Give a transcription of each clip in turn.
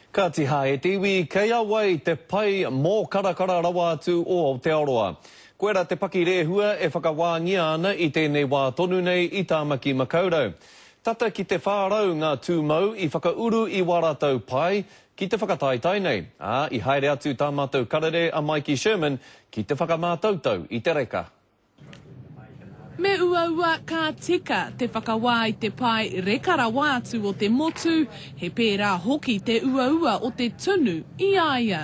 Kāti hā e te iwi, kei a wai te pai mōkarakara rawa atu o Aotearoa? Koirā te pakirehua e whakawāngia ana i tēnei wā tonu nei i Tāmaki Makaurau. Tata ki te 400 ngā tūmau i whakauru i wā rātou pae ki te whakataetae nei, ā, i haere atu tā mātou karere a Maiki Sherman ki te whakamātautau i te reka. Me uaua ka tika te whakawā i te pae reka rawa atu o te motu, he pērā hoki te uaua o te tunu i a ia.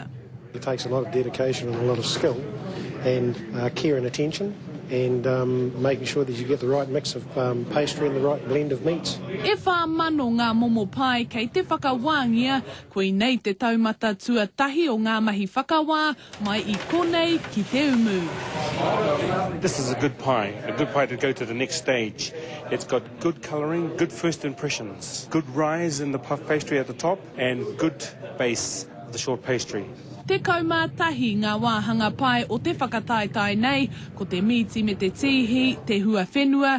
It takes a lot of dedication and a lot of skill and care and attention and making sure that you get the right mix of pastry and the right blend of meats. E whā mano ngā momo pae kei te whakawāngia, Koinei te taumata tuatahi o ngā mahi whakawā mai i konei ki Te Umu. This is a good pie, a good pie to go to the next stage. It's got good colouring, good first impressions, good rise in the puff pastry at the top and good base of the short pastry. Tekau mā tahi ngā wāhanga pae o te whakataetae nei, ko te mīti me te tīhi, te huawhenua,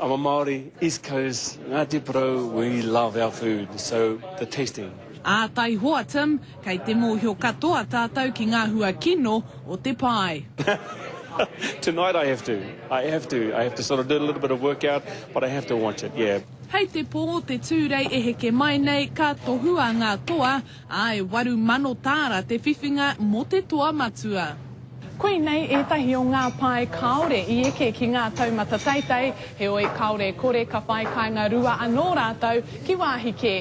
I'm a Māori, East Coast, Ngāti Porou, we love our food, so the tasting. Ā, taihoa Tim, kei te mōhio katoa tātou ki ngā hua kino o te pae. Tonight I have to, I have to, I have to sort of do a little bit of work out, but I have to watch it, yeah. Hei te pō o te Tūrei e heke mai nei, ka tohua ngā toa, Ā, e waru mano tāra te whiwhinga mō te toa matua. Koinei ētahi o ngā pae kāore i eke ki ngā taumata teitei, heoi kāore e kore ka whai kāinga rua anō rātou ki wāhi kē.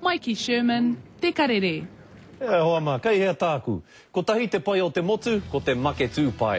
Mai ki Sherman, te karere. E hoa ma, kei hea tāku? Kotahi te pai o te motu, ko te make tū pai.